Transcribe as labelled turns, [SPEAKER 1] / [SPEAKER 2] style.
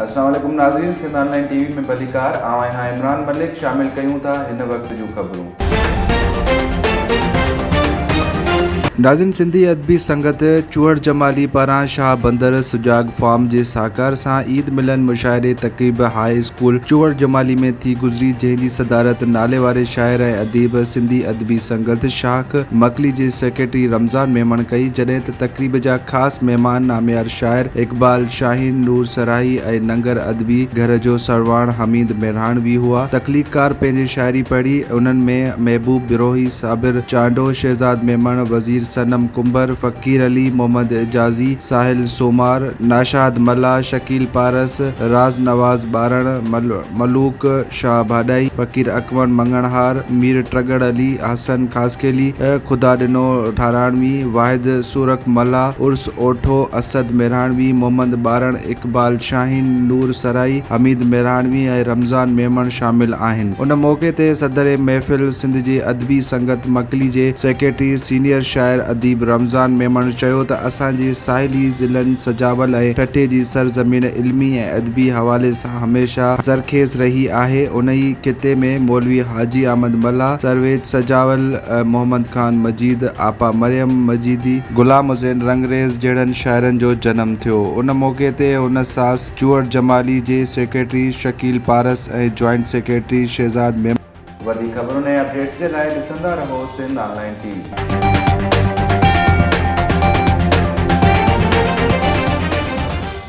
[SPEAKER 1] السلام عليڪم ناظرين Sindh online T V ۾ ڀليڪار آئون آهيان عمران ملڪ شامل ڪيون ٿا هن وقت جون خبرون. ناظرين سنڌي ادبي سنگت چوهڙ جمالي پاران شاهه بندر سجاڳ فارم جي ساهڪار سان عيد ملن مشاعري تقريب هاء اسڪول چوهڙ جمالي ۾ ٿي گذري جنهن جي صدارت ناليواري شاعر ۽ اديب سنڌي ادبي سنگت شاخ مڪلي جي سيڪريٽري رمضان ميمڻ ڪئي جڏهن ته تقريب جا خاص مهمان ناميار شاعر اقبال شاهين، نور سرائي ۽ ننگر ادبي گهر جو سرواڻ حميد ميرهاڻوي هئا. تخليقڪار پنهنجي شاعري پڙهي، انهن ۾ محبوب بروهي، صابر چانڊو، شهزاد ميمڻ، وزير صنم ڪنڀر، فقير علي، محمد اعجازي، ساحل سومار، ناشاد ملاح، شڪيل پارس، راز نواز ٻارڻ، ملوڪ شاهه ڀاڏائي، فقير اڪوڻ مڱڻهار، مير ٽڳڙ علي، حسن خاصخيلي، خدا ڏنو ٺاراڻوي، واحد سورخ ملاح، عرس اوٺو، اسد ميراڻوي، محمد ٻارڻ، اقبال شاهين، نور سرائي، حميد ميراڻوي ۽ رمضان ميمڻ شامل آهن. ان موقعي تي صدر محفل سنڌ جي ادبي سنگت مڪلي جي سيڪريٽري سينيئر شاعر اديب رمضان ميمڻ چيو ته اسان جي ساحلي ضلعن سجاول ۽ ٺٽي جي سرزمين علمي ۽ ادبي حوالي سان هميشه زرخيز رهي آهي. انهيء خطي ۾ مولوي حاجي احمد ملاح، سرويچ سجاول، محمد خان مجيد، آپا مريم مجيدي، غلام حسين رنگريز جهڙن شاعرن جو جنم ٿيو. ان موقعي تي هن ساس چوهڙ جمالي جي secretary Shakeel Paras ۽ joint secretary Shahzad Memon, وڌيڪ خبرن ۽ اپڊيٽس جي لاء ڏسندا رهو سنڌ آنلائن ٽي وي.